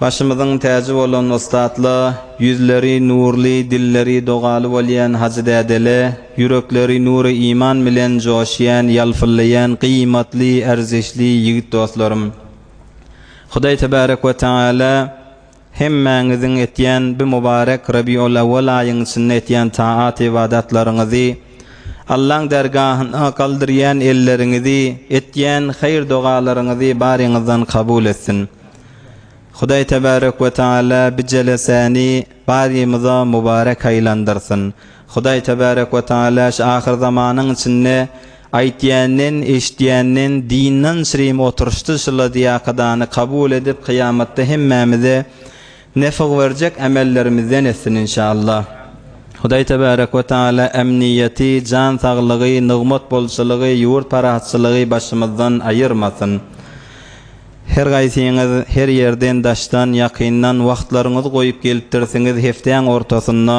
Başymyzyň täji bolan ussatla, ýüzleri nurly, dilleri dogaly bolýan hajy dädele, ýürekleri nury iman bilen joşýan, ýalpyllaýan gyýmatly, erzişli ýigit dostlarym! Hudaý Tebarek we Tagala hemmäňiziň etýän bi mubarek Rabiul Awwal aýyň içinde etýän taat-ybadatlaryňyzy, Allaň dergahyna galdyrýan elleriňizi, etýän haýyr-dogalaryňyzy baryňyzdan kabul etsin. Hudaý Tebarek we Teala bijeleseni barymyza mubarek aýlandyrsyn. Hudaý Tebarek we Teala şu ahyrzamanyň içinde aýtýanyn, eşitýänyn dinden şirim oturşdy şyladýakadany kabul edip kyýamatda hemmämize Nefg berjek ämellerimizden etsin inşallah. Hudaý tebarek we taala emniýeti, jan saglygy, nygmat bolçulygy, ýurt parahatçylygy başymyzdan aýyrmasyn. Her gaýsyňyz her ýerden daşdan, ýakyndan wagtlaryňyzy goýup gelipdirsiňiz hepdäň ortasynda.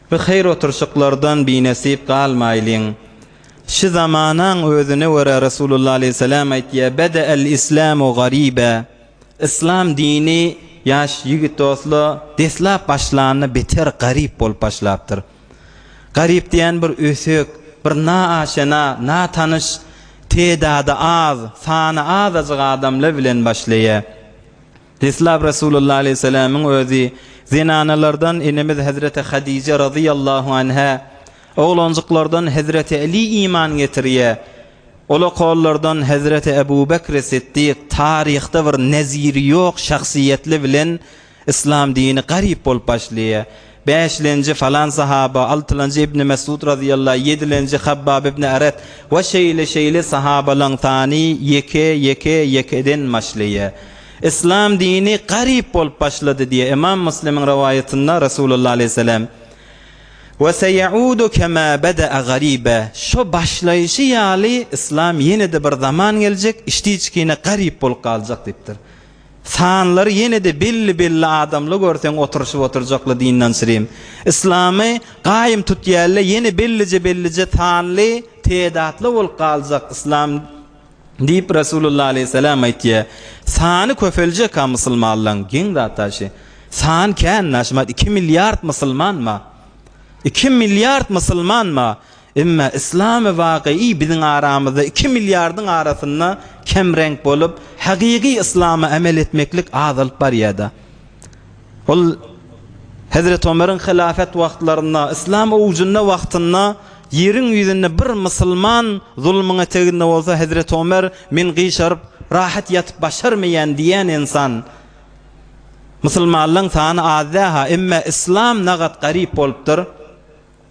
Bi haýyr oturşyklardan binesip galmaýlyň. Şi zamanaň özüne görä Resulullah aleýhissalam aýtýar, Bede'el islamu garibe, Yslam dini, ýaş ýigit dosla, deslap başlanda beter garyp bolup başlapdyr. Garyp diýen bir ösek, bir naaşena, natanyş, teedady az, sany azajyk adamlar bilen başlaýar. Deslap Resulullah aleýhissalamyň özi zenanalardan enemiz Hezreti Hadije razyýallahu anhä, oglanjyklardan Hezreti Äli iman getirýär. Ola kollardan Hezreti Ebu Bekri Siddik taryhda bir neziri ýok şahsyýetli bilen Yslam dini garyp bolup başlaýar. Bäşlenji, falan sahaba, altylanjy Ibni Mesud razyýallah, ýedilenji Habbab ibni Eret we şeýle şeýle sahabalaň sany ýeke, ýeke, ýekeden başlaýa. Yslam dini garyp bolup başlady diýe Ymam Muslimiň rowaýatynda Resulullah aleýhissalam, We seýaudu kema beda'a gariba, şo başlaýşy ýaly Yslam ýene-de bir zaman geljek, içdi-içkine garyp bolup galjak diýipdir. Sanlary ýene-de belli belli adamly görseň oturyşyp oturjakly dyndanşrym. Yslamy gaýym tutýalle ýene bellije bellije sanly tedatly bolup galjak yslam diýip Resulullah aleýhissalam aýtýa. Sany köpeljeka musulmanlaň geň zat daşy. San kän naşmat iki milliard musulmanma. Iki milliard musulmanma. Emma yslamy wakyýy biziň aramyzda iki milliardyň arasynda kemreňk bolup, hakyky yslama amel etmeklik azalyp barýada. Ol Hezreti Omeryň hylafat wagtlarynda, yslam owjunda wagtynda ýeriň ýüzünde bir musulman zulmyňa teginde bolsa Hezreti Omer men gyşaryp rahat ýatyp başarmaýan diýän ynsan. Musulmanlaň sany az däha, emma yslam nagat garyp bolupdyr.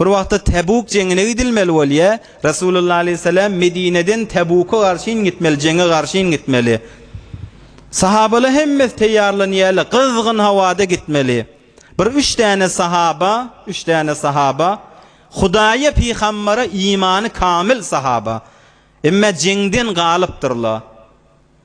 Bir wagtda Täbuk jeňine gidilmeli bolýa. Resulullah aleýhissalam Medineden Täbuka garşyn gitmeli, jeňe garşyn gitmeli. Sahabalar hemmesi teýýarlanýarlar, gyzgyn howada gitmeli. Bir üç däne sahaba, üç däne sahaba, Hudaýa, pygambere imany kamyl sahaba. Emma jeňden galypdyrlar.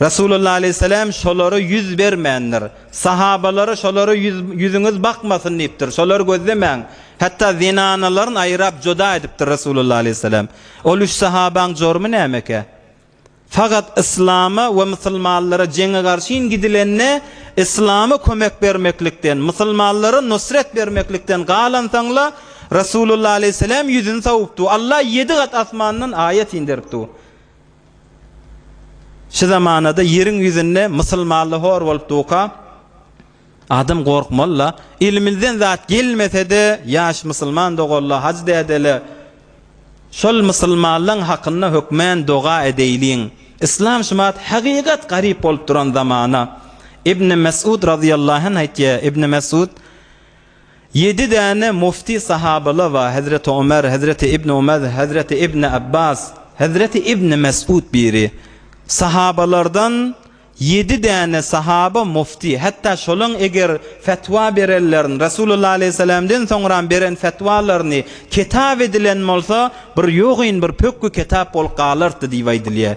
Resulullah aleýhissalam şolara ýüz bermändir. Sahabalary şolara ýüz, ýüzüňiz bakmasyn diýipdir. Şolary gözlemäň. Hatda zenanalaryny aýrap juda edipdir Resulullah aleýhissalam. Ol üç sahabaň jormy nämekä? Fakat yslama we musulmanlara jeňe garşyn gidilende yslama kömek bermeklikden, musulmanlara nusret bermeklikden galansaňla Resulullah aleýhissalam ýüzüni sawupdu. Allah ýedi gat asmandan aýat inderipdu. Şu zamanada ýeriň ýüzünde mysylmally hor bolup duka, adam gorkmaly-la. Elimizden zat gelmese-de, ýaş mysylman doganlar, hajy dädeler, şol mysylmanlaň hakynda hökmän doga edeýliň. Yslam şumat hakykat garyp bolup duran zamana. Ibni Mesud razyýallahu anh aýtýar, Ibni Mesud, Ýedi däne mufti sahabala wa Hezreti Omer, Hezreti Ibn Omez, Hezreti Ibn Abbas, Hezreti Ibn Mes'ud biri. Sahabalardan ýedi däne sahaba mufti, hatda şolaň eger fetwa berenlerin Resulullah aleyhisselamden soňram beren fetwalaryny ketap edilen bolsa bir ýogyn bir pökgi ketap bolup galartdy diýip aýdylýa.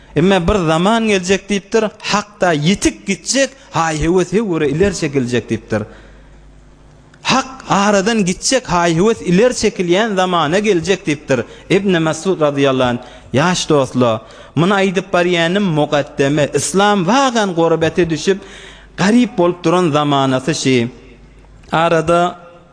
Emma bir zaman geljek diýipdir, Hakda ýitip gitjek haý-hewes höwri ileri çekiljek diýipdir. Hak aradan gitjek haý-hewes ileri çekilýän zamana geljek diýipdir. Ibn Mesud radylýallahu anh, Ýaş dostla, muny aýdyp barýanym mugaddeme, yslam wagan gurbete düşüp, garyp bolup duran zamanasy şi. Arada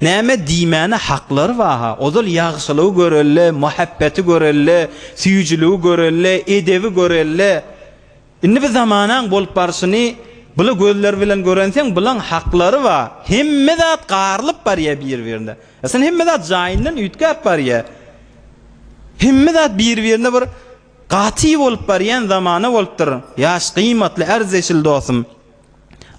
Näme diýmäne haklary bar-ha, ozal ýagşylygy göreli, muhabbeti göreli, süýjüligi göreli, edebi göreli. Indi bu zamanaň bolup barşyny bula gözler bilen görenseň, bulaň haklary bar. Hemme zat garylyp barýar bir-birine. Eslinde hemme zat jaýyndan üýtgäp barýar. Hemme zat bir-birine bir gaty bolup barýan zamana bolupdyr, ýaş, gyýmatly, ärzeşil dostum.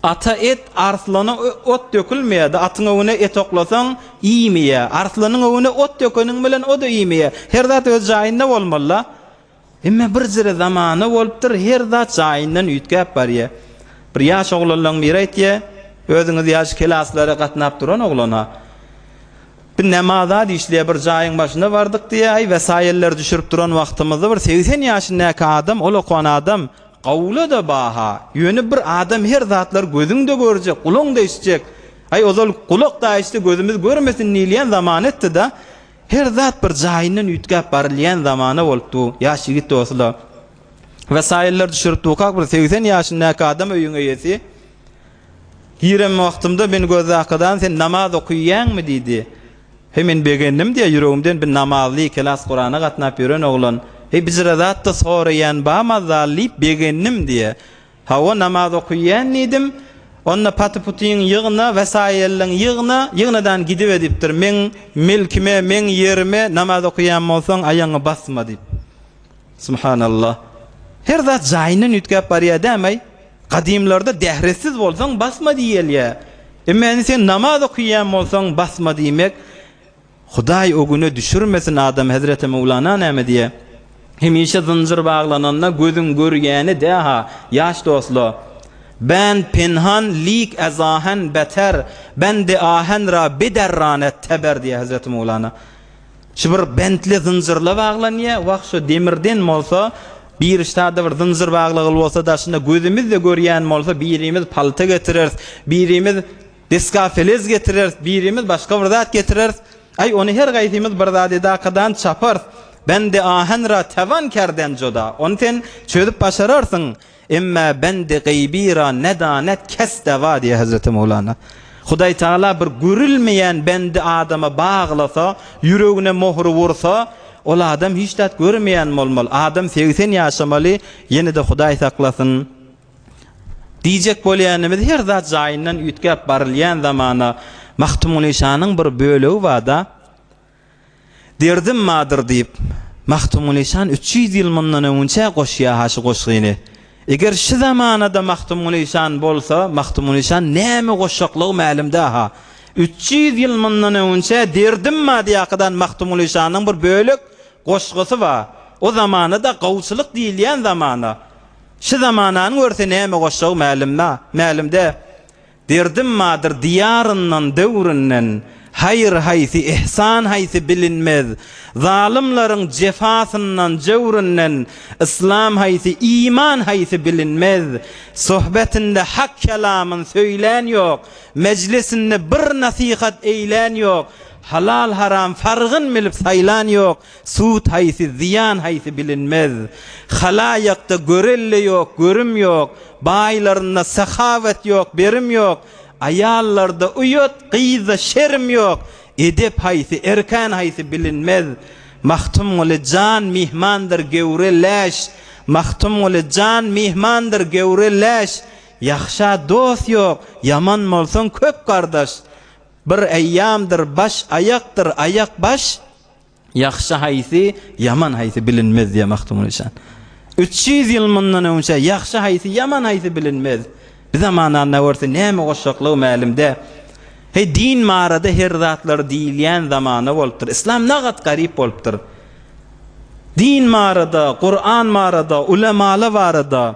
Ata et, arslana ot dökülmeýär-de, atyň öňüne et oklasaň, iýmeýär. Arslanyň öňüne ot dökeniň bilen, o-da iýmeýär. Her zat öz jaýynda bolmaly-da. Emma birjire zamana bolupdyr, her zat jaýyndan üýtgäp barýar. Bir ýaş oglanlaryň biri aýtýar, Özüňiz ýaly kelaslara gatnap duran oglana, Biz näme zat işleýär, bir jaýyň başyna bardyk diýýär, aý, wesaýyllar düşürip duran wagtymyzda bir segsen ýaşyndäki adam, ol okan adam, Gowula-da baha, ýöne bir adam her zatlary gözüň-de görjek, gulaň-da eşitjek. Aý, ozal gulak-da eşitse gözümiz görmesin diýilýän zaman etdi-da, her zat bir jaýyndan üýtgäp barylýan zamana bolup dur, ýaş ýigit dosyla wesaýyllar düşürip durkak bir segsen ýaşyndaky adam öýüň eýesi, Girem wagtymda meni gözde Akadany sen namaz okyýäňmi? diýdi. Heý men begendim diýýär ýüregimden bir namazly kelas Kurana gatnap ýören oglan. Heý bijire zatda soraýan ba mazzal diýip begendim diýýär. Hawa namaz okyýän diýdim. Onda paty-putyň ýygna, wesaýyllyň ýygna, ýygnadan gidip edipdir. Meň mülkime, meň ýerime namaz okyýan bolsaň aýaňy basma diýip. Subhanallah. Her zat jaýyndan üýtgäp barýar dämay. Gadymlarda dähretsiz bolsaň basma diýilýär. Emma indi sen namaz okuyýan bolsaň basma diýmek Hudaý o güne düşürmesin adam Hezreti Mowlana näme diýýär? Hemişe zynjyr baglananda gözüň görýäni däha ýaş dostla. Band penhan lik ezahen beter, bende ahen ra bederran et teber diýýär Hezreti Mowlana. Şu bir bentli zynjyrla baglanýar. Wah, şu demirden bolsa, birişdada bir zynjyr baglagyly bolsa, daşynda gözümiz-de görýän bolsa, birimiz palta getireris, birimiz deskafelez getireris, birimiz başga bir zat getireris. Aý, ony her gaýsymyz bir zat edakadan çaparys. Bendi ahen ra tewan kerden juda. Ony sen çözüp başararsyň. Emmâ bendi gaýby ra ne danet kes dawâ diýýär Hezreti Mowlana. Hudaý Tagala bir görülmeýän bendi adama baglasa, ýüregine mohury ursa, ol adam hiç zat görmeýän bolmaly, adam segsen ýaşamaly, ýene-de Hudaý saklasyn, diýjek bolýanymyz her zat jaýyndan üýtgäp barylýan zamana Magtymguly şanyň bir bölegi barda, Derdim madyr diýip, Magtymguly şan üç ýüz ýyl mundan öňünçä goşýa-ha şu goşgyny. Eger şu zamanada Magtymguly şan bolsa, Magtymguly şan näme goşjaklygy mälimdä-ha. Üç ýüz ýyl mundan öňünçä Derdim mady ýakydan Magtymguly şanyň bir bölek goşgusy bar. O zamana-da gawuçylyk diýilýän zamana. Şu zamananyň görse näme goşjagy mälimdä. Derdim madyr diýaryndan döwründen, Haýyr haýsy, ihsan haýsy bilinmez. Zalymlaryň jefasyndan, jöwründen, Yslam haýsy, iman haýsy bilinmez. Sohbetinde hak kelamyn söýlän ýok, Mejlisinde bir nasihat eýlän ýok, Halal-haram fargyn bilip saýlan ýok, Sud haýsy, zyýan haýsy bilinmez. Halaýakda görelde ýok, görüm ýok, baýlarynda sahawat ýok, berim ýok, aýallarda uýat, gyzda şerim ýok, edep haýsy, erkan haýsy bilinmez. Magtymguly jan myhmandyr göwre läş, Magtymguly jan myhmandyr göwre läş, Ýagşa dost ýok, ýaman bolsaň köp gardaş, Bir aýamdyr baş aýakdyr aýak baş, Ýagşy haýsy, ýaman haýsy bilinmez diýýär Magtymguly Işan. Üç ýüz ýyl mundan öňçä ýagşy haýsy, ýaman haýsy bilinmez. Bi zamananda görse näme goşjaklygy mälim dä. Heý, din barada her zatlar diýilýän zamana bolupdyr. Yslam nagat garyp bolupdyr. Din barada, Kuran barada, ulemala barada.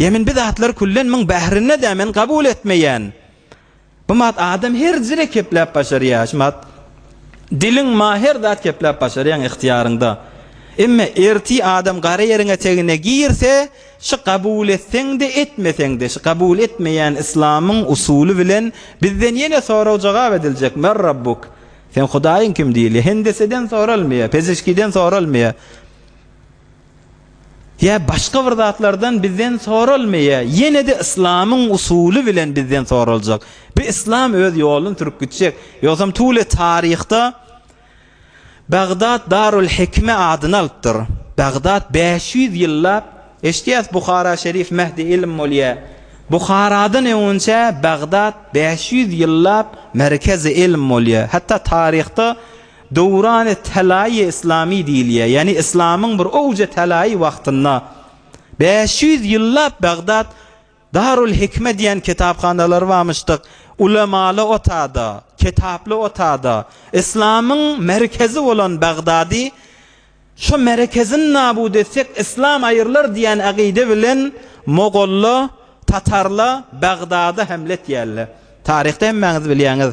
Emin bi zatlar küllen myň bährinde-dä men kabul etmeýän. Bmat adam her zire kepläp başarýa. Şmat diliň ma her zat kepläp başarýaň ihtiýaryňda. Emme erti adam gara ýeriňe tegine girse şy kabul etseňde etmeseňde şy kabul etmeýän islamyň usuly bilen bizden ýene sorag jogap ediljek mer rabbuk sen hudaýyň kim diýilýä hendeseden soralmaýa pezişkiden soralmaýa Ýa başga bir zatlardan bizden soralmaýa, ýene-de yslamyň usuly bilen bizden soraljak. Bu yslam öz ýoluny sürüp gitjek. Ýogsam Tule taryhda Bagdat Darul Hikme adyny alypdyr. Bagdat bäş ýüz ýyllap, eşidýäs Buhara şerif Mehdi Ilm bolýa. Buharadan öňünçä Bagdat bäş ýüz ýyllap Merkezi Ilm bolýa. Hatda taryhda Döwran-y Tälaýy Yslami diýilýär, ýagny yslamyň bir owja tälaýy wagtynda bäş ýüz ýyllap Bagdat Darul Hikme diýen kitaphanalary barmyşdyk, ulemaly otada, kitaply otada, yslamyň merkezi bolan Bagdady şo merekezini nabut etsek yslam aýrylar diýen agyda bilen mogolla, tatarla Bagdada hemle etýärler. Taryhda hemmäňiz bilýäňiz.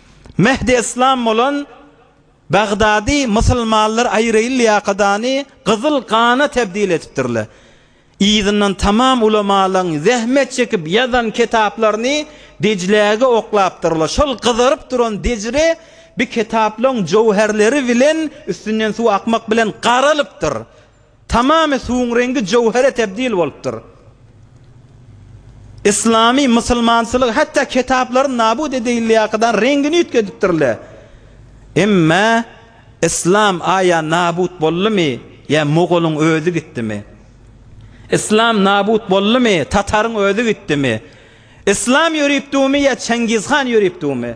Mehdi Eslam bolan Bagdady mysylmanlar aýraýyl ýakadany gyzyl gana tebdil edipdirler. Yzyndan tamam ulamalaň zähmet çekip ýazan kitaplaryny Dejläge oklapdyrlar. Şol gyzaryp duran Dejre bi kitaplaň jowherleri bilen üstünden suw akmak bilen garalypdyr. Tamamy suwuň reňgi jöwhere tebdil bolupdyr. Yslamy, musulmansylygy, hatda kitaplary nabut edeýilýäkadar reňgini üýtgedipdirle. Emma Yslam aýa nabut boldumy, ýa mogolyň özi gitdimi? Yslam nabut boldumy, tataryň özi gitdimi? Yslam ýörüpdümi ýa Çengizhan ýörüpdümi?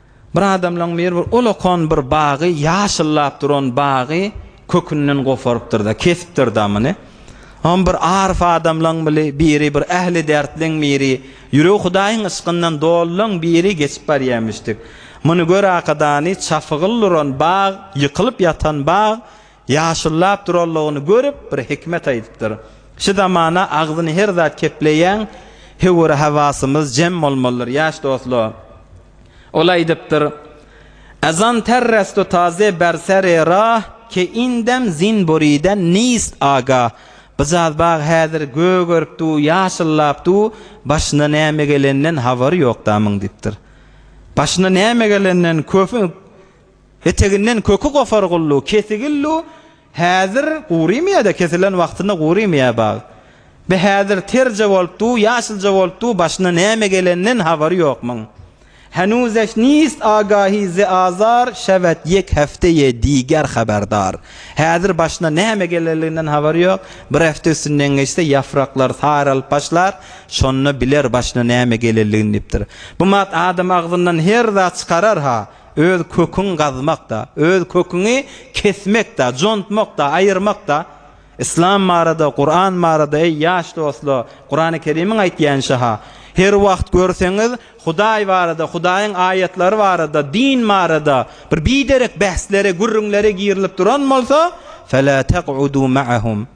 Bir adamlaň biri bir olakan bir bagy, ýaşyllap duran bagy kökünden goparypdyr-da, kesipdir damyny. Oňa bir aryf adamlaň bili biri, bir ähli därtleň biri, ýüregi Hudaýyň yşkyndan dolulaň biri geçip barýarmyşdyk. Muny gör-ä, Akadany, çapygyl duran bag, ýykylyp ýatan bag, Ýaşyllap duranlygyny görüp, bir hikmet aýdypdyr, Şu zamana agzyny her zat kepleýän höwür-hawasymyz jem bolmalydyr, ýaş dostlar. Ol aýdypdyr, Azan terrestu taze ber ser-i rah, ke indem zin buriden nist agah, Bjaz bag häzir gögerip du, ýaşyllap du, başyna näme gelenden habary ýok damyň diýipdir. Başyna näme gelenden köpi. Eteginden köki gopar gullu, kesigillu, Häzir gurymyýa-da, kesilen wagtynda gurymyýa bag. Be häzir terje bolup du, ýaşylja bolup du, başyna näme geleninden habary ýok muň. Henuzeş nist agahi ze azar şewet ýek hefte ýe diger haberdar. Häzir başyna näme gelerliginden habary ýok, bir hefte üstünden geçse ýafraklar saralyp başlar, şonda biler başyna näme gelerligini diýipdir. Bu mat adam agzyndan her zat çykarar-ha. Öz köküňi gazmak-da, öz köküňi kesmek-de, jontmak-da, aýyrmak-da, Yslam barada, Kuran barada, eý, ýaş dostlar, Kurany Kerimiň aýtýança-ha, Her wagt görseňiz, Hudaý barada, Hudaýyň aýatlary barada, din barada bir biderek bäslere, gürrüňlere girilip duran bolsa, Fe-lä teg-udû ma'ahum.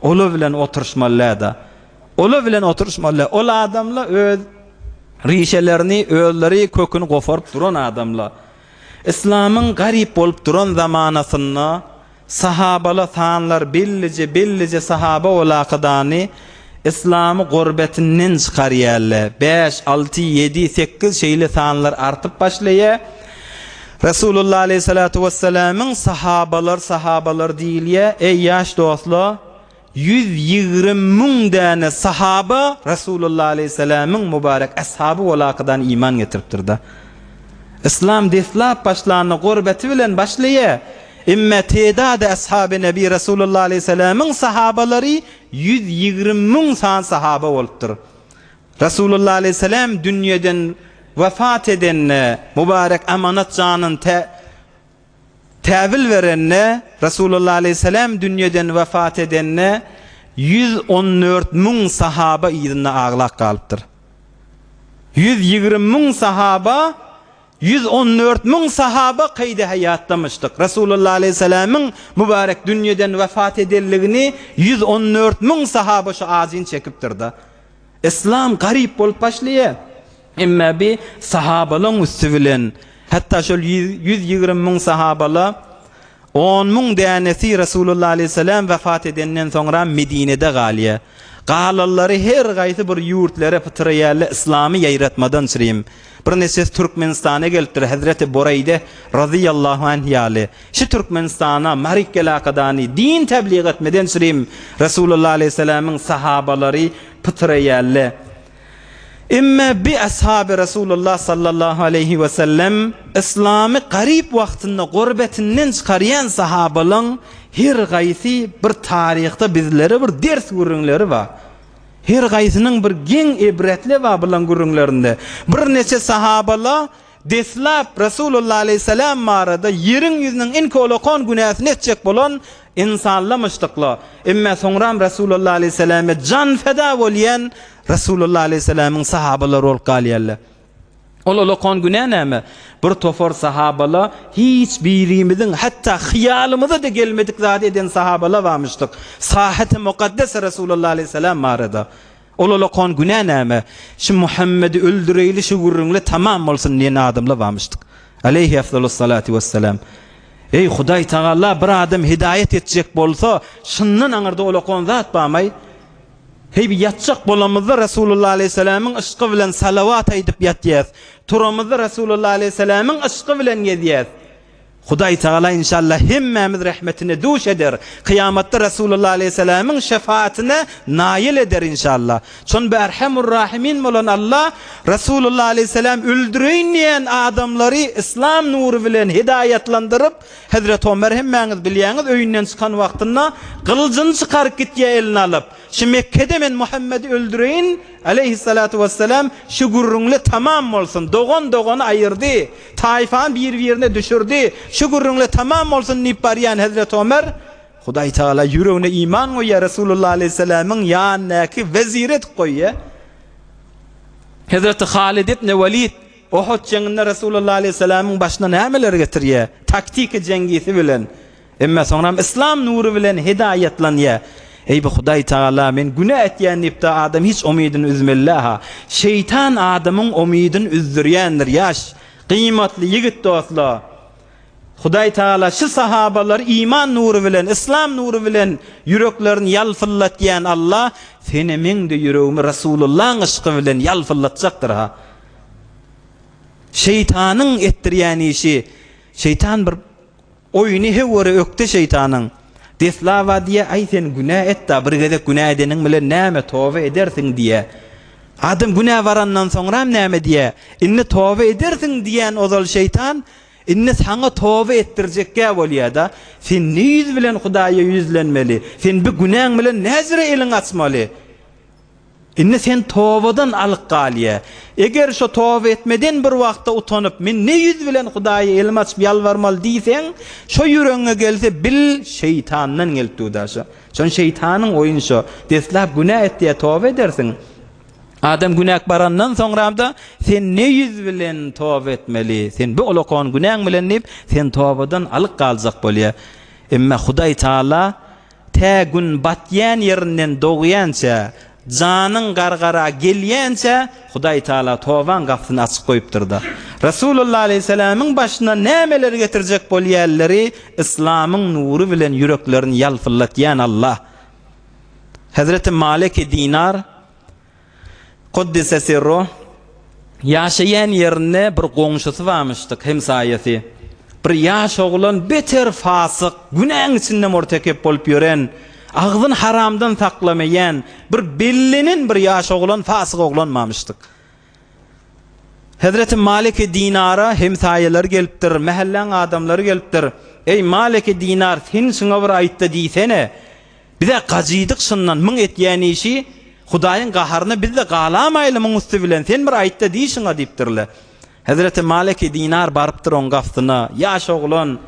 Ola bilen oturyşmalydä. Ola bilen oturyşmaly. Ol adamla öz rişelerini, özleri köküni goparyp duran adamla. Yslamyň garyp bolup duran zamanasynda sahabala sanlar billije billije sahaba olakydany Yslamy gorbetinden çykarýalle. Bäş, alty, ýedi, sekiz şeýle sanlar artyp başlaýa. Resulullah aleýhissalatu wessalamyň sahabalar sahabalar diýilýä eý ýaş dostlar ýüz ýigrimi müň däne sahaba Resulullah aleýhissalamyň mubarek ashaby walakydan iman getiripdirda Islam deslap başlanda gorbaty bilen başlaýa emme teedady ashaby nebi Resulullah aleýhissalamyň sahabalary ýüz ýigrimi müň san sahaba bolupdyr Resulullah aleýhissalam dünýeden wepat edende, mübarek amanat janyny tä täwil berende, Resulullah aleýhissalam dünýeden wepat edende, ýüz on dört müň sahaba yzynda aglap galypdyr. Ýüz ýigrimi müň sahaba, ýüz on dört müň sahaba keýde haýatdamyşdyk. Resulullah aleýhissalamyň mübarek dünýeden wepat edenligini ýüz on dört müň sahaba şu ajyny çekipdir-de. Yslam garyp bolup başlaýar. Emma bi sahabalaň üsti bilen, hatda şol ýüz ýigrimi müň sahabala on müň dänesi Resulullah aleýhissalam wepat edenden soňram Medinede galýar. Galanlary her gaýsy bir ýurtlara pytyraýarlar, yslamy ýaýratmadan çyrim. Bir neçesi Türkmenistana gelipdir, hezreti Bureýde razyýallahu anh ýaly. Şu Türkmenistana Mary Kelakadany din tebliğ etmeden çyrim Resulullah aleýhi selämiň sahabalary pytyr eýälle. Emme bi ashabi Resulullah sallallahu aleýhi we sellem Islamy garyp wagtynda gurbetinden çykarýan sahabalaň her gaýsy bir taryhda bizlere bir ders gürrüňleri bar. Her gaýsynyň bir geň ibretli babylan gürrüňlerinde birneçe sahaba-la deslap Resulullah aleýhissalam barada ýeriň ýüzüniň iň kolakan günäsini etjek bolan insanlamyşdykla, emma soňram Resulullah aleýhissalame jan feda bolýan Resulullah aleýhissalamyň sahabalary bolup galýarlar. Ol olakan günä näme? Bir topar sahabala hiç birimiziň hatda hyýalymyza-da gelmedik zady eden sahabala bamyşdyk. Sahyhy Mukaddes Resulullah aleyhisselam barada. Ol olakan günä näme? Şu Muhammedi öldüreýli şu gürrüňle tamam bolsun diýen adamla bamyşdyk. Aleyhi efzalus salatu wesselam. Eý Hudaý Tagala bir adam hidaýat etjek bolsa, şyndan aňyrda olakan zat bamaý? Heý, ýatjak bolamyzda Resulullah aleýhiselämiň yşky bilen salawat aýdyp ýatýas, turamyzda Resulullah aleýhiselämiň yşky bilen gezýäs. Hudaý Tagala inşallah hemmämiz rehmetine duş eder, kyýamatda Resulullah aleýhiselämiň şefaatine naýyl eder inşallah. Çün Berhemur-Rahimin bolan Alla Resulullah aleýhiseläm öldüreýin diýen adamlary yslam nury bilen hidaýatlandyryp, Hezreti Omer hemmäňiz bilýäňiz öýünden çykan wagtynda gylyjyny çykaryp gitýär eline alyp, Şu Mekgede men Muhammedi öldüreýin, aleýhissalatu wessalam, şu gürrüňli tamam bolsun, dogan dogany aýyrdy, taýfany bir-birine düşürdi, şu gürrüňli tamam bolsun diýip barýan Hezreti Omer, Hudaý tagala ýüregine iman goýýar, Resulullah aleýhissalamyň ýanyndaky wezir edip goýýar. Hezreti Halid ibn Walid Uhud jeňinde Resulullah aleyhisselamyň başyna nämeler getirýär? Taktika jeňgisi bilen. Emma soňram Yslam nury bilen hidaýatlanýar. Eý bu Hudaý Tagala, men günä etýän diýipde adam hiç umydyny üzmeli dälha. Şeýtan adamyň umydyny üzdürýändir. Ýaş, gymatly ýigit dostlar. Hudaý Tagala şu sahabalary iman nury bilen, Yslam nury bilen ýüreklerini ýalpyldatýan Allah, senemeň-de ýüregimi Resulullahyň yşky bilen ýalpyldatjakdyrha. Şeýtanyň etdirýän işi, şeýtan bir oýny hewwere ökde şeýtanyň. Deslaba diýýär, Aý sen günä et-da, bir gezek günä edeniň bilen näme, toba edersiň diýýär. Adam günä barandan soňram näme diýýär, Indi toba edersiň diýýän ozal şeýtan, indi saňa toba etdirjekgä bolýar-da, Sen ne ýüz bilen Hudaýa ýüzlenmeli, sen bu günäň bilen näjere eliňi açmaly? Indi sen tobadan alyk galýa. Eger şo toba etmeden bir wagtda utanyp, men ne ýüz bilen Hudaýa elim açyp ýalbarmaly diýseň, şo ýüregiňe gelse, bil, şeýtandan gelip duda şo. Şony şeýtanyň oýun şo. Deslap günä etýä toba edersiň. Adam günäk barandan soňramda, sen ne ýüz bilen toba etmeli. Sen bu olakan günäň bilen diýip, sen tobadan alyk galjak bolýa. Emma Hudaý Taala Tä gün batýan ýerinden dogýança, janyň gargara gelýänçä Hudaý Tagala tobaň gapysyny açyk goýupdyr-da. Resulullah aleýhissalamyň başyna nämeleri getirjek bolýanlary yslamyň nury bilen ýüreklerini ýalpyldatýan Allah Hezreti Maleki Dinar, Quddise sirru, Ýaşaýan ýerinde bir goňşusy barmyşdyk, hemsaýasy. Bir ýaş oglan beter fasyk, günäň içinde murtekep bolup ýören, agzyny haramdan saklamaýan, bir bellenen bir ýaş oglan, fasyk oglan barmyşdyk. Hezreti Maliki Dinara hemsaýalary gelipdir, mähelläň adamlary gelipdir. Eý, Maliki Dinar, sen şuňa bir aýt-da diýsene! Biz-ä gajydyk şyndan, muň etýän işi Hudaýyň gaharyna biz-de galamaýly muň üsti bilen, sen bir aýt-da diý şuňa diýipdirler. Hezreti Maliki Dinar barypdyr oň gapysyna, ýaş oglan,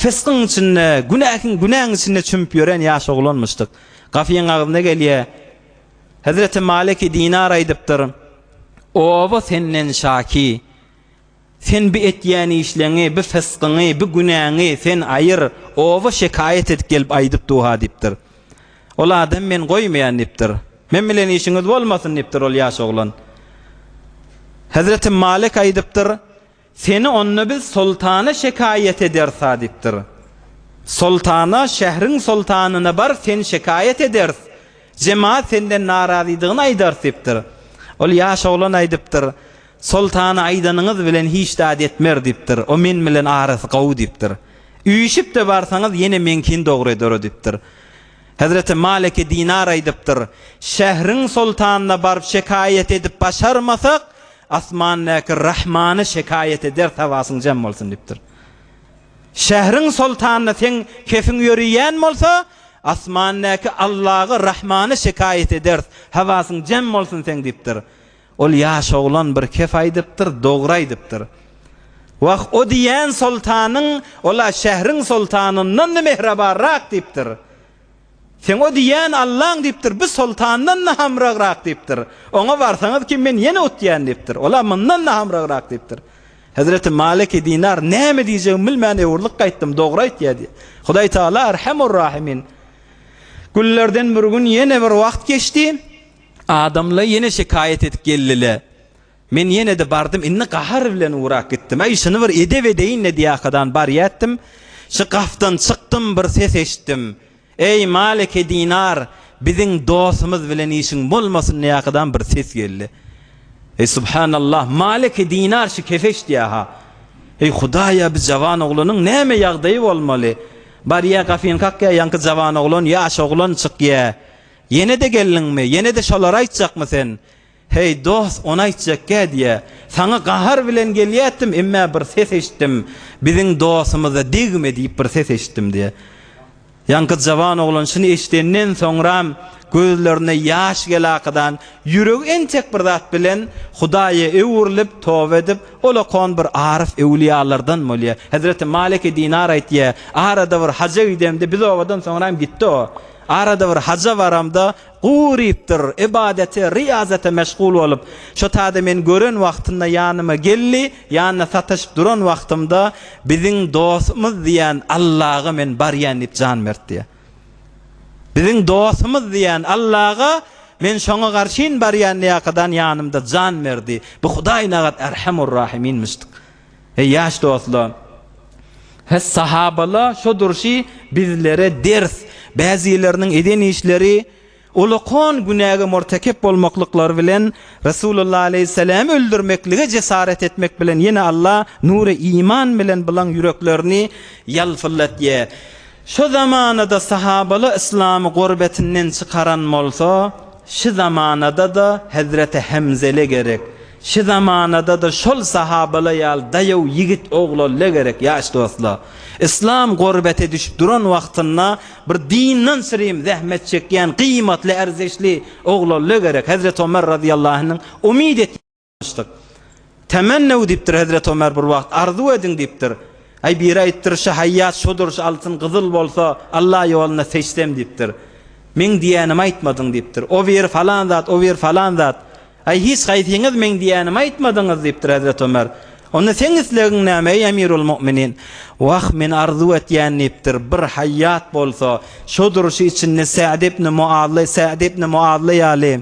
fyskyň içinde, günähiň, günäň içinde çümüp ýören ýaş oglanmyşdyk. Gapyň agzyna gelýä, Hezreti Maliki Dinar aýdypdyr, Oba senden şaki, Sen bi etýän işleňi, bi fysgyňy, bi günäňi sen aýyr, oba şekaýat edip gelip aýdyp dur-ha diýipdir. Ol adam men goýmaýan diýipdir. Men bilen işiňiz bolmasyn diýipdir ol ýaş oglan. Hezreti Malik aýdypdyr, Seni onda biz soltana şekaýat ederis-ha diýipdir. Soltana, şähriň soltanyna bar, sen şekaýat ederis. Jemaat senden narazydygyny aýdar diýipdir. Ol ýaş oglan aýdypdyr, Soltana aýdanyňyz bilen hiç zat etmer diýipdir. O men bilen arasy gowy diýipdir. Üýşüp-de barsaňyz ýene meňkin dogry eder-o diýipdir. Hezreti Maliki Dinar aýdypdyr, Şähriň soltanyna baryp şekaýat edip başarmasak, asmandaky Rahmana şekaýat ederis hawasyň jem bolsun diýipdir. Şähriň soltanyna seň kefiň ýöriýän bolsa, Asmandaky Allaga, Rahmana şekaýat ederis, habasyň jem bolsun seň diýipdir. Ol ýaş oglan bir kep aýdypdyr, dogry aýdypdyr. Wah, o diýen soltanyň ol-a şähriň soltanyndan-da mähribanrak diýipdir. Seň o diýen Allaň diýipdir, bu soltandan-da hamragrak diýipdir. Oňa barsaňyz kim, men ýene utýan diýipdir. Ol-a mundan-da hamragrak diýipdir. Hezreti Maliki Dinar, Näme diýjegimi bilmän öwrülip gaýtdym, dogry aýtýar diýýär. Hudaý Tagala Erhemur-Rahimin. Günlerden bir gün ýene bir wagt geçdi. Adamlar ýene şikaýat edip geldiler. Men ýene-de bardym, indi gahar bilen ugrap gitdim. Aý, şuny bir edep edeýin-le diýýärkadan barýatdym. Şu gapdan çykdym, bir ses eşitdim. Eý, Maliki Dinar, biziň dostumyz bilen işiň bolmasyn diýäkadam bir ses geldi. Eý, subhanallah, Maliki Dinar şu kefeş diýä-ha. Eý, Hudaýa, bi jawan oglanyň näme ýagdaýy bolmaly? Barýa, gafyny kakýa, ýaňky jawan oglan, ýaş oglan çykýa. Ýene-de geldiňmi? Ýene-de şolary aýtjakmy sen? Heý, dost, ony aýtjakgä diýä. Saňa gahar bilen gelýätdim, emmä bir ses eşitdim. Biziň dostumyza degme diýip bir ses eşitdim diýä. Ýaňky jawan oglan şuny eşidenden soňram gözlerine ýaş gelakadan, ýüregi entek bir zat bilen Hudaýa öwrülip, toba edip, ol okan bir aryf öwlüýalardan bolýa. Hezreti Maliki Dinar aýtýa, Arada bir haja gidemde, biz obadan soňram gitdi o. Arada bir haja baramda, Gurypdyr, ybadete, ryýazata meşgul bolup, şo taýda meni gören wagtynda ýanyma geldi, ýanyna sataşyp duran wagtymda, Biziň dostumyz diýen Allaga men barýan diýip jan berdi diýýär. Biziň dostumyz diýen Allaga men şoňa garşyn barýan diýýär, kadan ýanymda jan berdi. Bu Hudaý nagat Erhemur-Rahiminmişdik. Eý ýaş dostlar! He sahabala şo durşy bizlere ders, bäzileriniň eden işleri ulakon günäge murtekep bolmaklyklary bilen Resulullah aleýhissalamy öldürmeklige jesaret etmek bilen ýene Allah nury iman bilen bulan ýüreklerini ýalpyldatýa. Şo zamanada sahabala yslamy gorbetinden çykaran bolsa, şi zamanadada Hezreti Hemzele gerek. Şi zamanadada şol sahabala ýal daýaw ýigit oglalla gerek ýaş dostla. Islam gorbete düşüp duran wagtynda bir dinden syrym zähmet çekýän gyýmatly erzeşli oglalla gerek Hezreti Omer razyýallahynyň umyt et myşdyk. Temennew dipdir Hezreti Omer bir wagt arzuw ediň dipdir. Aý biri aýtdyr şi haýýat şodur şi altyn gyzyl bolsa Allah ýolunda seçsem dipdir. Meň diýänimi aýtmadyň dipdir. O biri falan zat o biri falan zat. Aý, hiç haýsyňyz meň diýýänimi aýtmadyňyz, diýipdir Hezreti Ömer. Onda seň islegiň näme, eý Emirul-Mu'minin? Wah, men arzuw etýän, diýipdir, bir haýýat bolsa, şo durşy içinde Sa'd ibn Mu'azy, Sa'd ibn Mu'azy ýaly,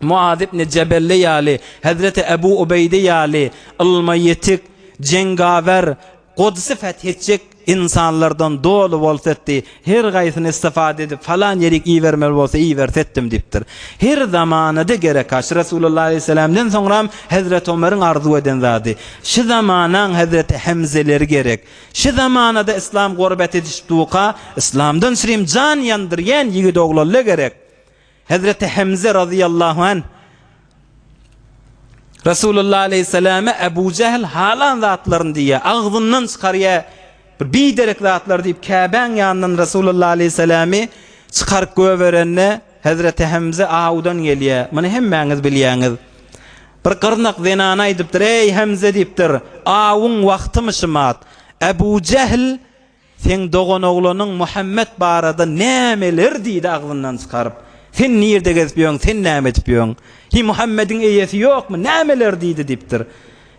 Mu'az ibn Jebelle ýaly, Hezreti Ebu Ubeýde ýaly ylma ýetik, jengawer, Godsy feth etjek ynsanlardan doly bolsa etdi, her gaýsyny istifade edip falan ýerik ibermeli bolsa iberse etdim diýipdir. Her zamanada gerek aş Resulullah aleýhisselamden soňram hezreti Omeriň arzuw eden zady. Şy zamanaň hezreti Hemzeleri gerek. Şy zamanada islam gorbat edişip duka islamdan çirim jan ýandyrýan ýigit oglalla gerek. Hezreti Hemze razyýallahu anh Resulullah aleyhissalame Ebu Jehl halan zatlaryny diýýär, agzyndan çykarýar, bir biderek zatlar diýip Käbäň ýanyndan Resulullah aleyhissalamy çykaryp göberende Hezreti Hemze awdan gelýär. Muny hemmäňiz bilýäňiz. Bir gyrnak zenana aýdypdyr, Eý Hemze diýipdir, awuň wagtymyşymat. Ebu Jehl Seň doganoglanyň Muhammet barada nämeler diýdi agzyndan çykaryp? Sen nirde gezip ýöň, sen näme edip ýöň? Hiý, Muhammediň eýesi ýokmy? Nämeler diýdi? diýipdir.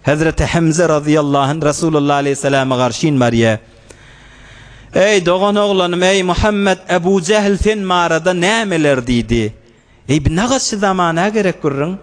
Hezreti Hemze razyýallahu anh Resulullah aleýhissalama garşyn barýar. Eý, doganoglanym, eý, Muhammet, Ebu Jähl sen barada nämeler diýdi? Eý, bu nagaşçy zamana gerek gürrüň.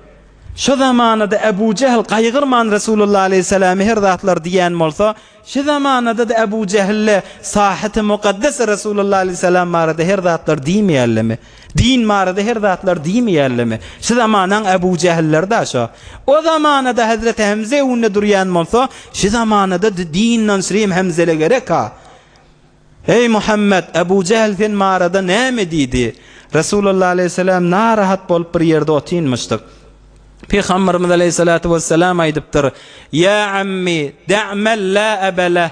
Şo zamanada Ebu Jähl gaýgyrman Resulullah aleýhissalamy her zatlar diýen bolsa, şu zamanada-da Ebu Jähl-le Sahyty Mukaddes Resulullah aleýhissalam barada her zatlar diýmeýärlemi? Din barada her zatlar diýmeýärlemi? Şu zamanaň Ebu Jähilleri-da şo. O zamanada Hezreti Hemze öňünde durýan bolsa, şu zamanada-da din-nanşrim Hemze-le gerek-a. Eý Muhammet, Ebu Jähl sen barada näme diýdi? Resulullah aleýhissalam narahat bolup bir ýerde otynmyşdyk. Pygamberimiz aleýhissalatu wessalam aýdypdyr, Ýa ammi, da'mal la aba leh,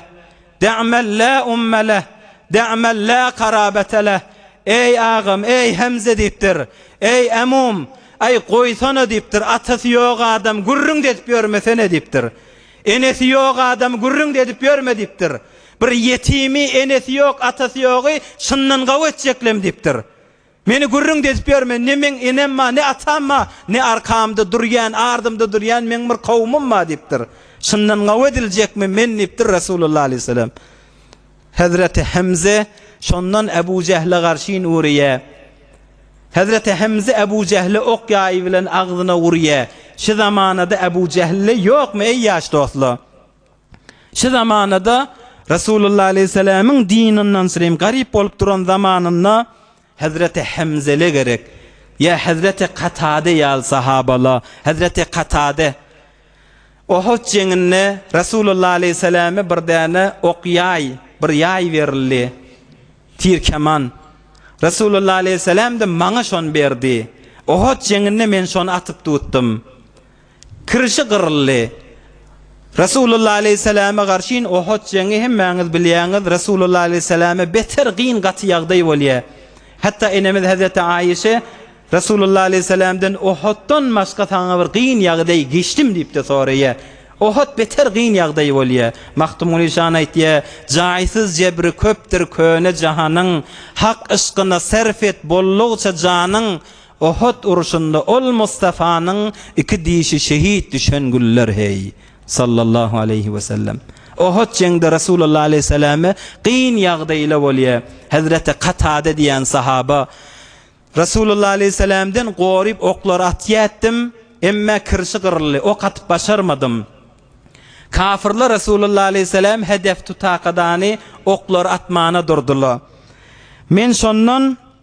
da'mal la umma leh, da'mal la karabata leh. Eý agam, eý Hemze diýipdir. Eý emum, aý goýsana diýipdir, atasy ýok adam gürrüňde edip ýörmesene diýipdir. Enesi ýok adam gürrüňde edip ýörme diýipdir. Bir ýetimi, enesi ýok, atasy ýogy çyndan gawy etjeklem diýipdir. Meni gürrüň dezip ýörme, ne meň enem bar, ne atam bar, ne arkamda durýan, ardymda durýan meň bir kowumym bar diýipdir. Çyndan gawy ediljekmi men diýipdir Resulullah aleýhissalam. Hezreti Hemze şondan Ebu Jehle garşyn urýa. Hezreti Hemze Ebu Jehle ok ýaýy bilen agzyna urýa. Şu zamanada Ebu Jehle ýokmy eý ýaş dostlar? Şu zamanada Resulullah aleýhissalamyň din ondan syrym garyp bolup duran zamanynda Hazreti Hemzele gerek ýa Hazreti Katade ýaly sahabala Hazreti Katade Ohut jeňinde Resulullah aleýhissalama bir däne ok ýaý bir ýaý berildi tir keman Resulullah aleýhissalamda maňa şony berdi Ohut jeňinde men şony atyp tutdum Kirşi gyryldy. Resulullah aleýhissalama garşyn Ohut jeňňi hemmäňiz bilýäňiz, Resulullah aleýhissalama beter gyn gaty ýagdaý bolýar. Hatda enemiz Hazreti Aýyşe Resulullah aleýhissalamdan Ohutdan başga saňa bir gyn ýagdaý geçdim diýipde soraýar. Ohut beter gyn ýagdaý bolýar. Mahtumguly şan aýtýar, Jaýsyz jebri köpdür köne jahanyň, Hak yşkyna serf et bollugça janyň, Uhud urşunda ol Mustafanyň iki dişi şehit düşen güller heý, sallallahu aleýhi wesellem. Uhud jeňde Resulullah aleýhissalame gyn ýagdaýyla bolýa, Hezreti Katada diýen sahaba, Resulullah aleýhissalamden goryp oklar atýa etdim, emme kirşi gyryldy, ok atyp başarmadym. Kafirler Resulullah aleýhissalam hedef tutakadany oklar atmana durdyla. Men şondan.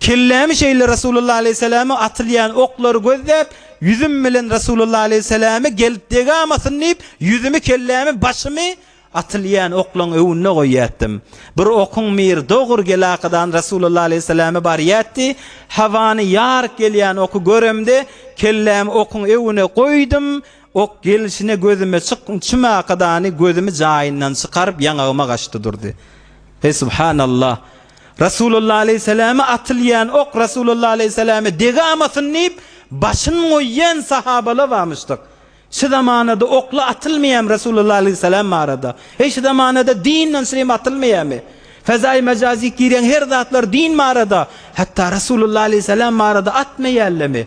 Kellämi şeýle Resulullah aleýhissalama atylýan oklary gözläp, ýüzüm bilen Resulullah aleýhissalama gelip degamasyn diýip, ýüzümi, kellämi, başymy atylýan oklaň öwünine goýýatdym. Bir okuň miri dogur gelakadan Resulullah aleýhissalama barýatdy. Hawany ýaryk gelýän oky göremde, kellämi okuň öwüne goýdum, Ok gelşine gözüme çyk çymakadany gözümi jaýyndan çykaryp ýaňagyma gaçdy durdy. Heý subhanallah! Rasulullah aleýhissalama atylýan ok Rasulullah aleýhissalama degamasyn diýip başyn goýýan sahabala bamyşdyk. Şu zamanada okla atylmaýam Rasulullah aleýhissalam barada. Heý şu zamanada din nonsrim atylmaýamy? Fezaýy mejazik girýän her zatlar din barada hatda Rasulullah aleýhissalam barada atmaýallamy?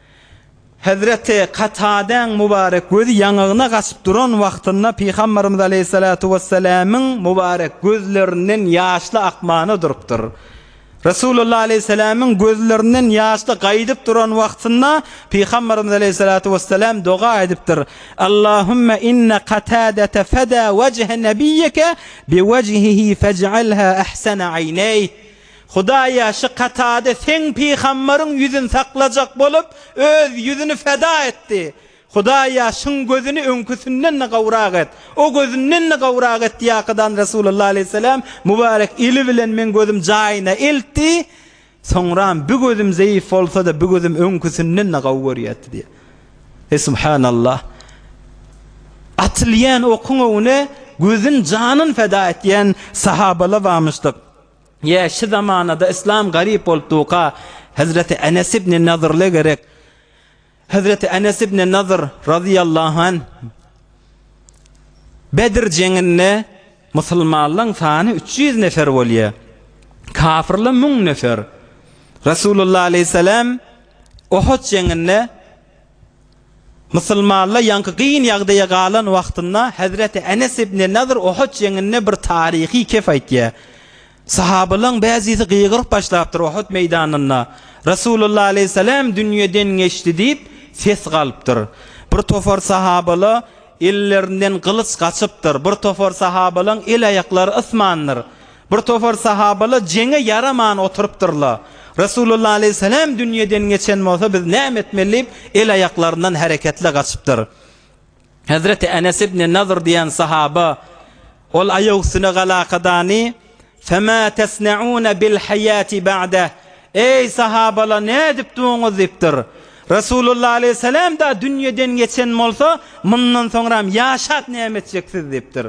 Hezreti Katadäň mubarek gözi ýaňagyna gaçyp duran wagtynda Pygamberimiz aleýhissalatu wessalamyň mubarek gözlerinden ýaşly akmana durupdyr. Resulullah aleýhissalamyň gözlerinden ýaşly gaýdyp duran wagtynda Pygamberimiz aleýhissalatu wessalam doga edipdir, Allahümme inne Katadete feda wejhe nebiyike bi wejhihi fej'alha ahsene ayneyh. Hudaýa şu Katade seň pygambaryň ýüzün saklajak bolup, öz ýüzüni feda etdi. Hudaýa şyň gözüni öňküsinden-de gowrak et, o gözünden-de gowrak et diýäkadan Resulullah aleýhisselam mübarek eli bilen meň gözüm jaýyna eltdi, soňram bi gözüm zeýif bolsa-da bi gözüm öňküsinden-de gowy görýärdi diýär. He subhanallah! Atylýan okuň öňüne gözün janyn feda etýän sahabalar barmyşdyk. Ýe, şu zamanada yslam garyp bolup duka, Hezreti Enes ibni Nadyrle gerek. Hezreti Enes ibni Nadyr razyýallahu anh Bedr jeňinde musulmanlaň sany üç ýüz nefer bolýa. Kafyrla müň nefer. Resulullah aleyhisselam Ohut jeňinde Musulmalla ýaňky gyn ýagdaýa galan wagtynda Hezreti Enes ibni Nadyr Uhud jeňinde bir taryhy kep aýtýar. Sahabalaň bäzisi gygyryp başlapdyr Uhud meýdanynda, Resulullah aleýhissalam dünýeden geçdi diýip ses galypdyr. Bir topar sahabala ellerinden gylyç gaçypdyr, bir topar sahabalaň el-aýaklary ysmandyr. Bir topar sahabalar jeňe ýaraman oturypdyrlar. Resulullah aleýhissalam dünýeden geçen bolsa biz näme etmeli diýip, el-aýaklaryndan hereketli gaçypdyr. Hezreti Enes ibn Nadr diýen sahaba ol aýagüstüne galakadany, Fema tesne'une bil haýati ba'deh, Eý, sahabalar, nädip duruňyz? diýipdir. Resulullah aleýhissalam-da dünýeden geçen bolsa, mundan soňram ýaşap näme etjeksiz? diýipdir.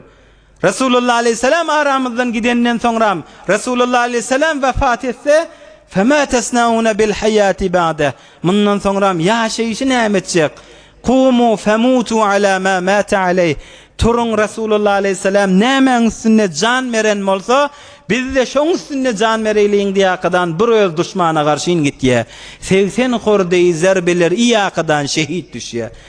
Resulullah aleýhissalam aramyzdan gidenden soňram, Resulullah aleýhissalam wepat etse, Fema tesnauna bil haýati ba'de, Mundan soňram ýaşaýşy näme etjek? Kumu femutu ala ma mata aleý, Turuň, Resulullah aleýhissalam nämäň üstünde jan beren bolsa, biz-de şoň üstünde jan bereýliň diýýäkadan bir öz duşmana garşyn gitýä. Segsen hordeý zerbeler iýýäkadan şehit düşýä.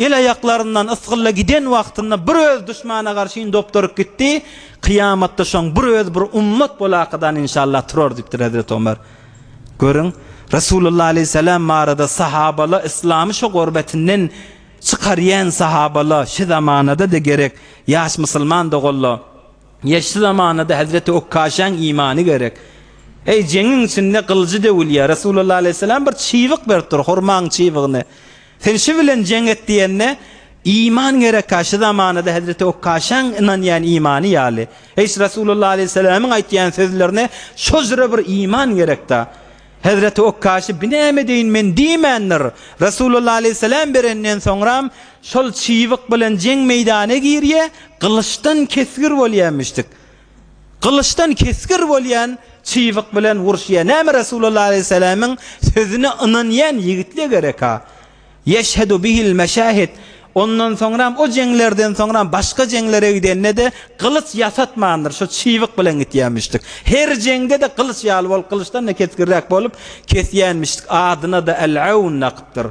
El-aýaklaryndan ysgylla giden wagtynda bir öz duşmana garşyn dopduryp gitdi, kyýamatda şoň bir öz bir ummat bolakadan inşallah turar diýipdir Hezreti Omar. Görüň, Resulullah aleýhissalam barada sahabala yslamy şo gorbetinden çykarýan sahabala şi zamanada-da gerek ýaş musulman doganla ýa şi zamanada Hezreti Okkaşaň imany gerek. Eý, jeňiň içinde gylyjy döwülýär, Resulullah aleýhissalam bir çybyk beripdir, hurmaň çybygyny. Sen şu bilen jeň et diýende, Iman gerek-ä, şu zamanada hezreti Okkaşaň ynanýan imany ýaly. Eýs Resulullah aleýhissalamyň aýtýan sözlerine şojra bir iman gerek-dä. Hezreti Okkaşy binäme edeýin men diýmändir. Resulullah aleýhissalam berenden soňram, şol çybyk bilen jeň meýdana girýä, gylyçdan kesgir bolýa müşrik. Gylyçdan kesgir bolýan çybyk bilen uruşýar. Näme Resulallah aleýhissalamyň sözüne ynanýan ýigitler gerek-a. Ýeşhedu bihil meşahid. Ondan soňram o jeňlerden soňram başga jeňlere gidende-de gylyç ýasatmandyr, şu çybyk bilen gitýämişdik. Her jeňde-de gylyç ýaly bolup, gylyçdan-da kesgirräk bolup kesýänmişdik. Adyna-da Al-Aun lakypdyr.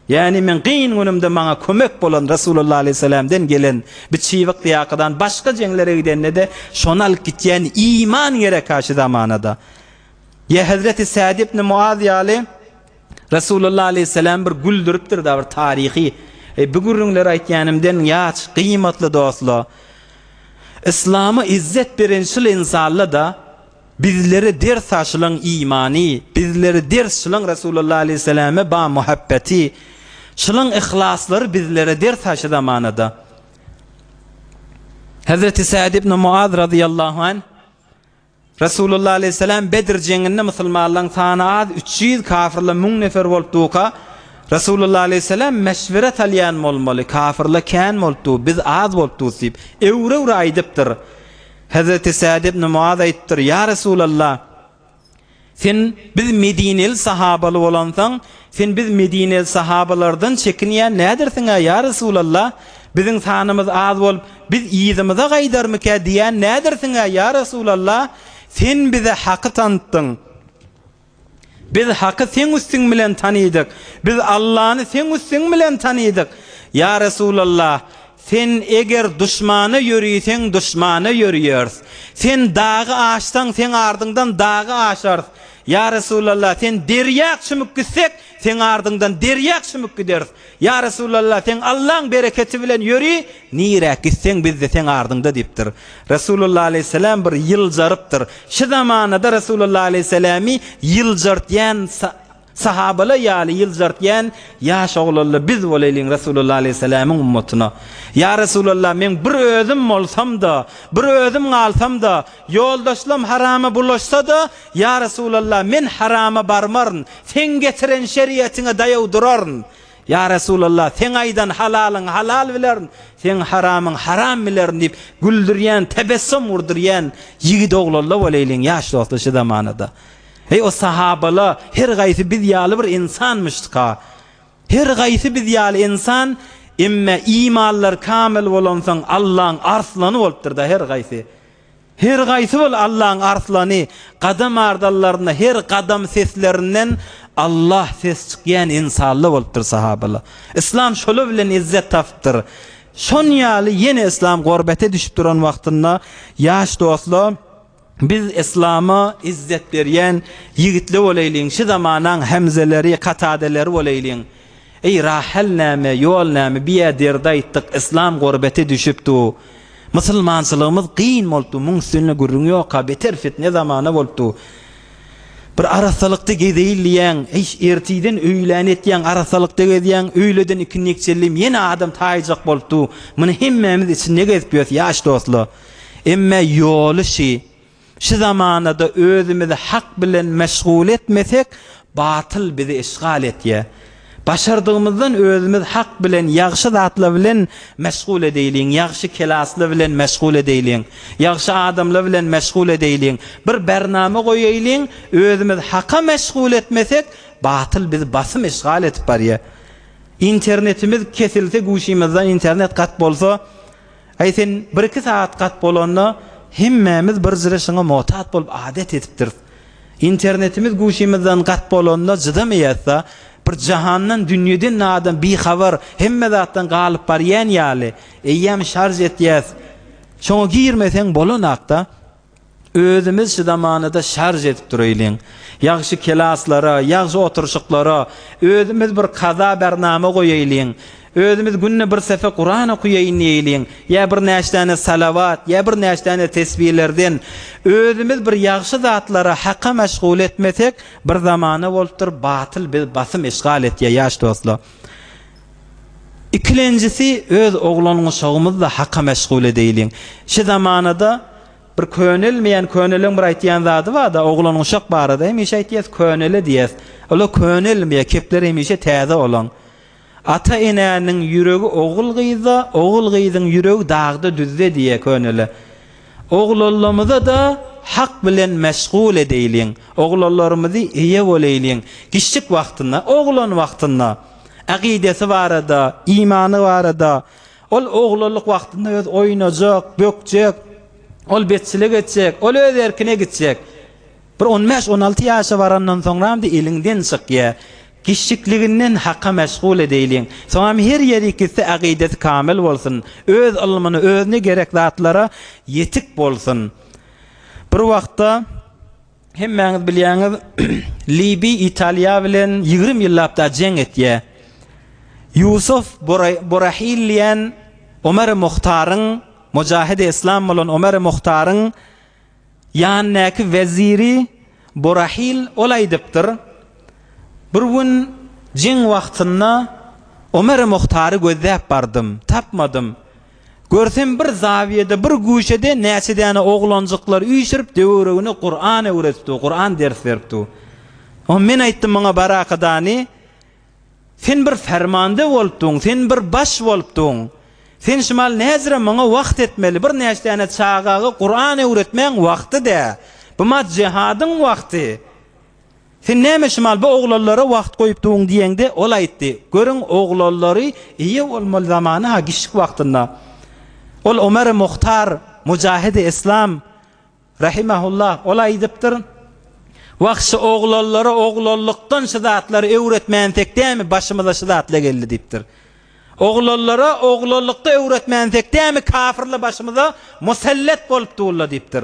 Ýagny meň kyn günümde maňa kömek bolan Resulullah aleýhissalamdan gelen bi çybyk ýakadan başga jeňlere gidende-de şony alyp gitýän iman gerek-ä şu zamanada. Ýa hezreti Sad ibn Muaz ýaly Resulullah aleýhissalam bir güldüripdir-da bir taryhy. Eý bi gürrüňleri aýtýanymdan ýaç, gyýmatly dostla. Yslama izzet beren şul ynsanla-da. Bizlere ders aşylaň imany, bizlere ders şylaň Resulallah aleyhissalame ba muhabbeti, şylaň yhlaslary bizlere ders aşy zamanada. Hazreti Sa'd ibn Mu'az razyallahu anh Resulallah aleyhissalam Bedr jeňinde musulmanlaň sany az üç ýüz kafirle müň nefer bolup duka Resulallah aleyhissalam meşvere salýan bolmaly kafirle kän bolup du biz az bolup dus diýip öwre öwre aýdypdyr. Hezreti Sad ibn Muaz aýtdyr, Ýa Resulallah! Sen biz medineli sahabaly bolansoň, sen biz medineli sahabalardan çekinýän nädersiň-ä, ýa Resulallah! Biziň sanymyz az bolup, biz yzymyza gaýdarmykä diýýän nädersiň-ä, ýa Resulallah! Sen bize haky tantyň. Biz Haky seň üstiň bilen tanydyk, biz Allany seň üstiň bilen tanydyk. Ýa Resulallah! Sen eger duşmana ýöriseň duşmana ýörýäris. Sen dagy aşsaň seň ardyňdan dagy aşarys. Ýa Resulallah! Sen derýa çümüp gitsek seň ardyňdan derýa çümüp gideris. Ýa Resulallah, seň Allaň bereketi bilen ýöri, nirä gitseň biz-de seň ardyňda diýipdir. Resulallah aleýhissalam bir ýyljarypdyr. Şu zamanada Resulallah aleýhissalamy ýyljartýan sahabalar ýaly ýyljartýan ýaş oglanlar biz bolaýlyň Resulallah aleýhissalamyň ummatyna. Ýa Resulallah, meň bir özüm bolsam-da, bir özüm galsam-da, ýoldaşlam harama bulaşsa-da, Ýa Resulallah, men harama barmaryn, seň getiren şeriýetiňe daýaw duraryn. Ýa Resulallah, seň aýdan halalyň halal bilerin, seň haramyň haram bilerin diýip, güldürýän, tebessum urdurýan ýigit oglalla bolaýlyň ýaş dostlar şu zamanada. Eý o sahabala, her gaýsy biz ýaly bir ynsanmyşdyka. Her gaýsy biz ýaly ynsan, emme imanlary kamyl bolansoň Allaň arslany bolupdyrda her gaýsy. Her gaýsy bol Allaň arslany gadam ardallarynda her gadam seslerinden Allah ses çykýan ensalla bolupdyr sahabala. Yslam şola bilen izzet tapypdyr. Şon ýaly ýene yslam gorbete düşüp duran wagtynda ýaş dostla biz yslama izzet berýän ýigitli bolaýlyň şi zamanaň Hemzeleri Katadeleri bolaýlyň. Eý rahel näme ýol näme biýä derdi aýtdyk yslam gorbete düşüpdu. Musulmançylygymyz gyn bolupdy muň üstünde gürrüň ýoka beter fitne zamana bolupdy bir arassalykda gezeýin diýýäň eý ertiden öýlän etýäň arassalykda gezýäň öýleden ikindi ekjellem ýene adam taýjak bolupdy muny hemmämiz içinde gezip ýös ýaş dostlar emme ýoly şy Şu zamanada özümizi hak bilen meşgul etmesek, batyl bizi işgal etýär. Başardygymyzdan özümiz hak bilen, ýagşy zatlar bilen meşgul edeýliň, ýagşy kelasly bilen meşgul edeýliň, ýagşy adamlar bilen meşgul edeýliň, bir bernama goýaýliň, özümiz haka meşgul etmesek, batyl bizi basym işgal edip barýar. Internetimiz kesilse guşymyzdan internet gat bolsa, Äý sen bir-iki sagat gat bolanda hemmämiz bir jyryşyňa motat bolup adat edipdiris. Internetimiz guşymyzdan gat bolanda jydamaýasda bir jahandan dünýeden nadan bihabar hemme zatdan galyp barýan ýaly eýýäm şarž etýäs. Şoňa girmeseň bolanakda. Özümiz şu zamanada şarž edip dureýliň. Ýagşy kelaslara, ýagşy oturşyklara, özümiz bir kaza bernama goýaýliň. Özümiz günde bir sepe Kuran okuýaýyn diýeýliň. Ýa bir näçdäne salawat, ýa bir näçdäne tesbilerden. Özümiz bir ýagşy zatlara Haka meşgul etmesek, bir zamana bolupdyr, batyl biz basym eşgal etýä ýaş dostlar. Ikilenjisi öz oglan-guşagymyzda haka meşgul edeýliň. Şi zamanada bir könelmeýän köneleň bir aýtýan zady barda oglan-guşak barada hemişe aýtýas könele diýýäs. Ola könelmeýä kepler hemişe täze olaň. Ata enäniň ýüregi ogul gyzda ogul gyzyň ýüregi dagda düzde diýýä könele. Oglallamyza da hak bilen meşgul edeýliň. Oglallarymyzy eýe boleýliň. Giçlik wagtynda oglan wagtynda. Akydasy barada, imany barada, ol oglanlyk wagtynda öz oýnajak, bökjek, ol betçilik etjek, ol öz erkine gitjek. Bir on bäş, on alty ýaşa barandan soňramdy eliňden çykýar. Kiçjikliginden Haka meşgul edeýliň. Soňam her ýeri gitse akydasy kamyl bolsun, öz ylmyny, özüne gerek zatlara ýetik bolsun. Bir wagtda. Hemmäňiz bilýäňiz, Libi Italiýa bilen ýigrimi ýyllap da jeň etýä. Ýusuf Borahil diýen Omeri Muhtaryň, mujahidi yslam bolan Omeri Muhtaryň ýanyndaky weziri Borahil ol aýdypdyr, Bir gün jeň wagtynda Omeri Muhtary gözläp bardym, tapmadym. Görsem bir zawiýede bir güşede näçe däne oglanjyklar üýşürip döwüregine Kuran öwredip dur, Kuran ders berip dur. Onda men aýtdym muňa Barakadani, sen bir fermanda bolup durň, sen bir baş bolup durň. Sen şumal näzire muňa wagt etmeli, bir näçe däne çagaga Kuran öwretmäň wagty dä. Bu ma jehadyň wagty. Sen näme Şymal bu oglanlara wagt goýup duň diýende, ol aýtdy, Görüň, oglanlary eýe bolmaly zamany-ha gişlik wagtynda. Ol Omeri Muhtar, Mujahidi Islam, rahimehullah, ol aýdypdyr, Wahşy oglanlara oglanlykdan şu zatlary öwretmänsek dämi başymyza şu zatla geldi diýipdir. Oglanlara oglanlykda öwretmänsek dämi kafirle başymyza musellet bolup durla diýipdir.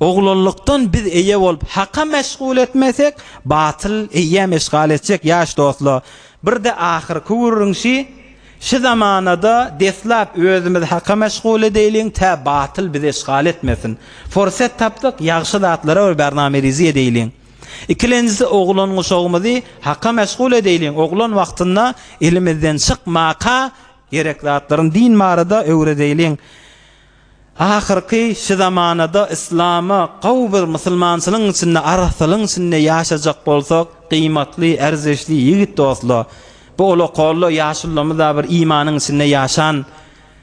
Oglulykdan biz eýe bolup Haka meşgul etmesek, batyl eýäm eşgal etjek ýaş dostlar. Birde ahyrky gürrüňşi, Şu zamanada deslap özümiz Haka meşgul edeýliň, tä batyl bizi eşgal etmesin. Forset tapdyk, ýagşy zatlara bir bername rizi edeýliň. Ikilenjisi oglan-guşagymyzy Haka meşgul edeýliň, oglan wagtynda elimizden çykmaka gerek zatlaryny din barada öwredeýliň. Ahyrky şi zamanada yslama gawy bir musulmançylygyň içinde arassalygyň içinde ýaşajak bolsak gyýmatly erzeşli ýigit dostla bu ula kolla ýaşullymyza bir imanyň içinde ýaşan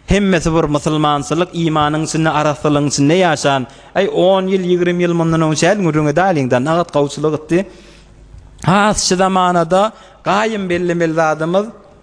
hemmesi bir musulmançylyk imanyň içinde arassalygyň içinde ýaşan äý on ýyl ýigrimi ýyl mundan öň çäl gürrüňi däliň da nagat gawçylyk itdi has şi zamanada gaýym bellemeli zadymyz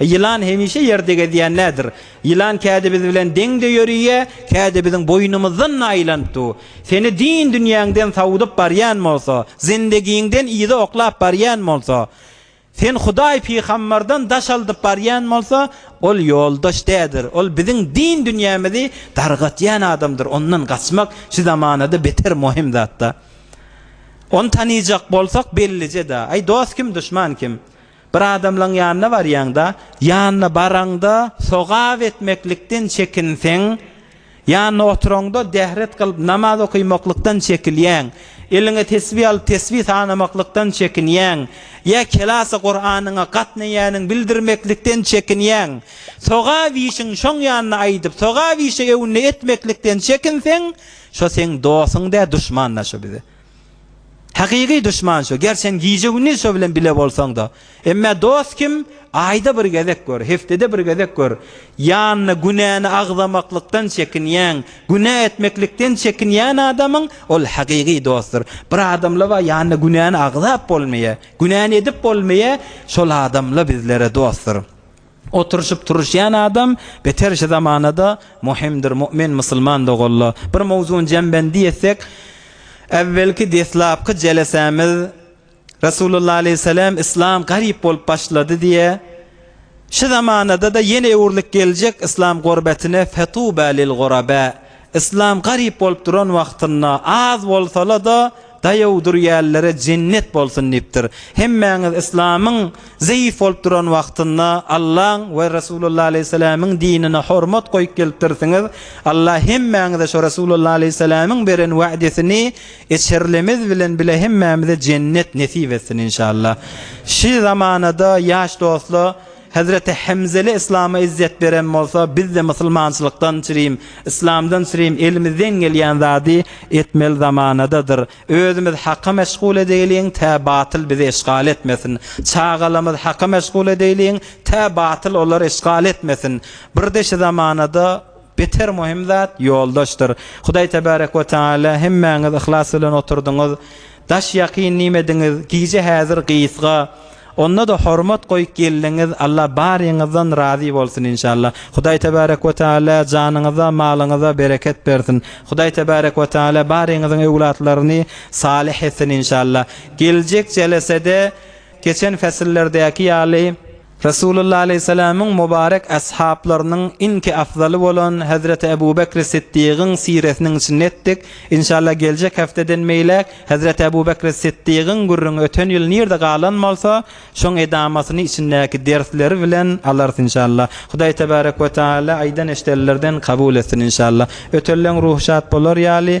Ýylan hemişe ýerde gezýän nädir? Ýylan käde biz bilen deň-de ýöriýä, käde biziň boýnumyzdan-da aýlanyp du. Seni din-dünýäňden sawudyp barýan bolsa, zindegiňden yza oklap barýan bolsa, seni Hudaý-pygambardan daş aldyp barýan bolsa, ol ýoldaş dädir, ol biziň din-dünýämizi dargatýan adamdyr. Ondan gaçmak şu zamanada beter möhüm zat-da. Ony tanyjak bolsak bellije-dä. Aý, dost kim, duşman kim? Bir adamlaň ýanyna barýaňda, ýanyna baraňda sogap etmeklikden çekinseň, ýanyna oturaňda dähret kylyp namaz okamaklykdan çekilýäň, eliňe tesbi alyp tesbi sanamaklykdan çekinýäň, ýa kelasy Kuranyňa gatnaýanyňy bildirmeklikden çekinýäň, sogap işiň şoň ýanyna aýdyp, sogap işi öwünde etmeklikden çekinseň, şo seň dostuň däl, duşman-da şo bize. Hakyky duşman şo. Ger sen gije-gündiz şo bilen bile bolsaň-da. Emmä dost kim? Aýda bir gezek gör, heftede bir gezek gör. Ýanyna günäni agzamaklykdan çekinýän, günä etmeklikden çekinýän adamyň ol hakyky dostdur. Bir adamla bar ýanyna günäni agzap bolmaýar, günäni edip bolmaýar, şol adamla bizlere dostdur. Oturyşyp turuşýan adam beter şu zamanada muhimdir mu'min musulman doganlar. Bir mowzuny jembendi etsek äwwelki deslapky jelesämiz Resulullah aleýhissalam islam garyp bolup başlady diýe şu zamanadada ýene öwrülip geljek islam gorbetine fetuba lil guraba Yslam garyp bolup duran wagtynda az bolsala-da daýaw durýällere jennet bolsun diýipdir. Hemmäňiz yslamyň zeýif bolup duran wagtynda Allaň we Resulullah aleýhissalamyň dinine hormat goýup gelipdirsiňiz. Allah hemmäňize şo Resulullah aleýhissalamyň beren wädesini eçerlemez bilen bile hemmämize jennet nesip etsin inşallah. Şi zamanada ýaş dostla Hezreti Hemzeli Yslama ezýet beren bolsa bizde Musylmançylykdan çirim, Yslamdan çirim elimizden gelýän zady etmeli zamanadadyr. Özümiz Haka meşgul edeýliň tä batyl bizi eşgal etmesin. Çagalarymyz Haka meşgul edeýliň tä batyl olary eşgal etmesin. Birde şi zamanada. Beter möhüm zat ýoldaşdyr. Hudaý Tebarek we Teala hemmäňiz yhlas bilen oturdyňyz. Daş ýakyn nimediňiz, gije häzir gysga. Onda-da hormat goýup geldiňiz, Alla baryňyzdan razy bolsun inşalla. Hudaý Tebarek we Teala janyňyza, malyňyza bereket bersin. Hudaý Tebarek we Teala baryňyzyň öwlatlaryny salyh etsin inşalla. Geljek jelesede geçen fesillerdäki ýaly, Resulullah aleýhissalamyň mubarek ashaplarynyň iňki afzaly bolan Hezreti Ebu Bekri Siddigyň siresiniň içinde etdik. Inşallah geljek hepdeden beýläk Hezreti Ebu Bekri Siddigyň gürrüňi öten ýyl nirde galan bolsa, şoň edamatyny içindäki dersleri bilen alarys inşallah. Hudaý tebarek we taala aýdan-eşidenlerden kabul etsin inşallah. Ötenleň ruhy şat bolar ýaly.